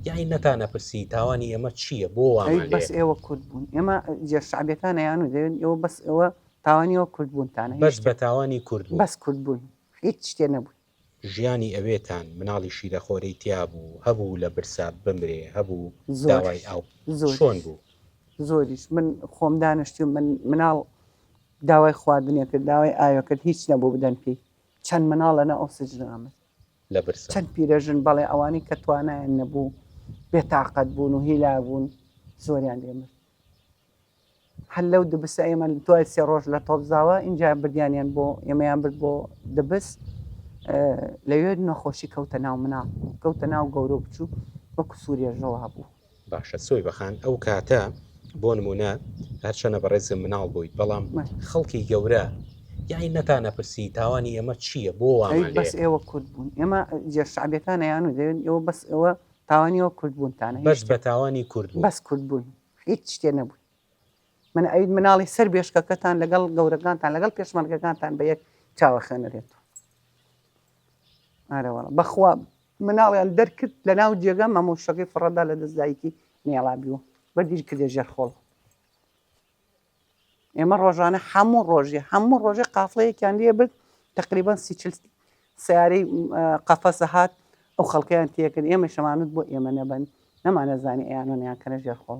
یەعنی نەتا نەپرسی تاوانی ئێمە چییە بۆ وامە لێ؟ بەس ئێوە کورد بوون ئێمە جێ شعبیەکان یانوو دەێن ئێوە بەس ئەوە تاوانیەوە کورد بوونتانە بەس بە تاوانی کورد بەس کورد بوون هیچ شتێ نەبوون. ژیانی ئەوێتان مناڵی شیرەخۆرەی تیا بوو هەبوو لە برسا بمرێ هەبوو داوای ئاو چۆن بوو؟ زۆریش من خۆم دانشتی و من مناڵ داوای خواردنێکرد داوای ئاوێکرد هیچ نەبوو بدەن پێی چەند مناڵ لەنا ئەو سجنە ئەمرد لە برسا. چەند پیرەژن، بەڵێ ئەوانەی کە توانایان نەبوو، بێتاقەت بوون و هیلاک بوون، زۆریان لێ مرد. هەر لەو دبسە ئێمە دوای سێ ڕۆژ لە تۆپزاوە، ئینجا بردیانیان بۆ، ئێمەیان برد بۆ دبس، لەوێ نەخۆشی کەوتە ناو مناڵ، کەوتە ناو گەورە و بچووک، وەکو سووریەش ڕەوا بوو. باشە سۆیبە خان ئەو کاتە بۆ نمونە هەرچەنە بەڕێزم مناڵ بوویت بەڵام خەڵکی گەورە یانی نەتانە پرسی تاوانی ئێمە چییە بۆ وامان بەس ئێوە کورد بوون ئێمە جێ شعبەکان یان و دەێن ئێوە بەس ئەوە تاوانیەوە کورد بوونتانە بەس بە تاوانی کورد بەس کورد بوون هیچ شتێ نەبوون من ئەوید مناڵی سەر بێشکەکەتان لەگەڵ گەورەکانتان لەگەڵ پێشمەرگەکانتان بە یەک چاوە خوێنەرێت ئارەوەڵە بەخوا مناڵیان دەرکرد لە ناو جێگا مامۆشتەکەی فڕەدا لە دەست دایکی نێڵابی و بە دیر کردە ژێر خۆڵ. ئێمە ڕۆژانە هەموو ڕۆژێ هەموو ڕۆژێ قافڵەیەکیان لێ برد تقریبان سی چل سیارەی قەفەسە هات ئەو خەڵکەیان تێکرد ئێمە شەمانوت بۆ ئێمە نەبن نەمانەزانی ئەیانۆنیان کەنە ژێر خۆڵ